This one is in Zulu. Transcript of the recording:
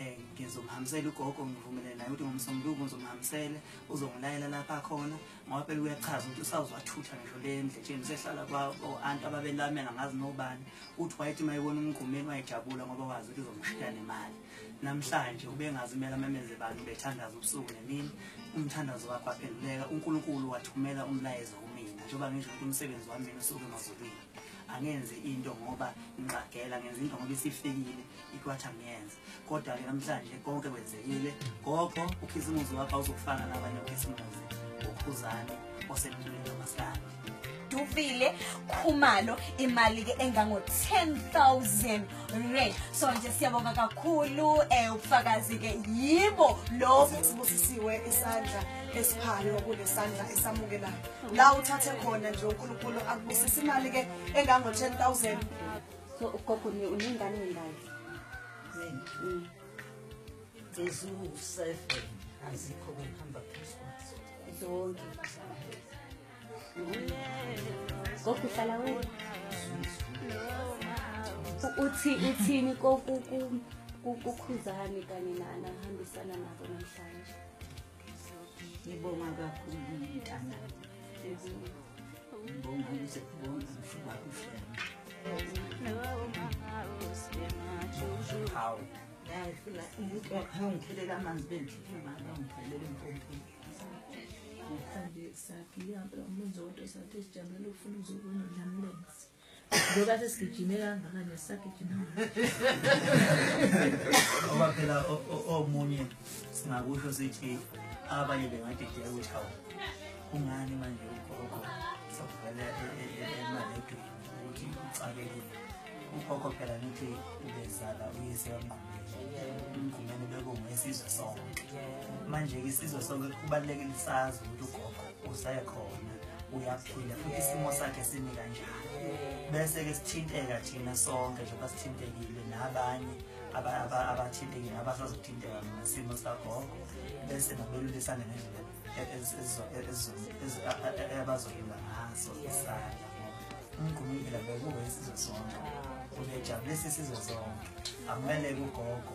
Eh, ngizomhambisela ugogo ngivumelele naye ukuthi ngomsombuluko ngizomhambisele uzongilayela lapha khona ngoba phela uyachaza ukuthi usawuzathutha ngisho le ndletsheni usehlala kwa-anti ababelamela ngazi nobani uthi wayethi uma ebona umgqumeni wayejabula ngoba wazi ukuthi uzomshiya nemali namhlanje ubengazi kumele amemeze bantu bethandaza ubusuku nemini umthandazo wakho waphenduleka unkulunkulu wathumela umlayezo kumina njengoba ngisho ukuthi umsebenzi wami mina usuke emazulwini angenzi into ngoba ngixagela ngenza into ngoba isifikile ikwathi angiyenze kodwa-ke namhlanje konke kwenzekile gogo ukhisimuzi wakho awuzokufana nabanye ukhisimuzi ukhuzane osemntuleni wamasikandi duvile khumalo imali-ke engango-10 000 rand so nje siyabonga kakhulu um eh, ubufakazi-ke yibo lobu sibusisiwe isandla esiphayo kunesandla esamukelayo la uthathe khona nje uNkulunkulu akubusisa imali ke engango 10000 so ugogo ni uningane ngayo mina mm. there's no seven azikho kuhamba phezulu zonke gogo uhlala wena uthi uthini kokukhuzani kanye nana hambisana nabo namhlanje ngibonga kakhulu mntana ngibonga ngize kubonga mfowabo uflema hawu yayifuna umuntu wakhangiphelele amanzi bendifuna mama ngiphelele empompini ngihambe sakhe ihambe umuntu zodwa sathi sijabulele ukufuna uzokwenza lamlenzi ngoba sesigijime kangaka nesisagijima ngoba phela omunye singakusho sithi abanye bengadideka ukuthi hawu kungani manje ugogo sokuvela emaledweni ukuthi ucakekile ugogo phela nithi ubezala uyise wamngqumele umngqumele bekunguyisizwe sonke manje-ke isizwe sonke kubalulekile sazi ukuthi ugogo usekhona uyaphila futhi isimo sakhe simi kanjalo bese-ke sithinteka thina sonke njengoba sithintekile nabanye abathintekile abasazothinteka ngesimo sikagogo bese nabelulisane ngendlela abazoyinga ngaso isala umgqumile bekuwe isizwe sonke ubejabulisa isizwe sonke amele kugogo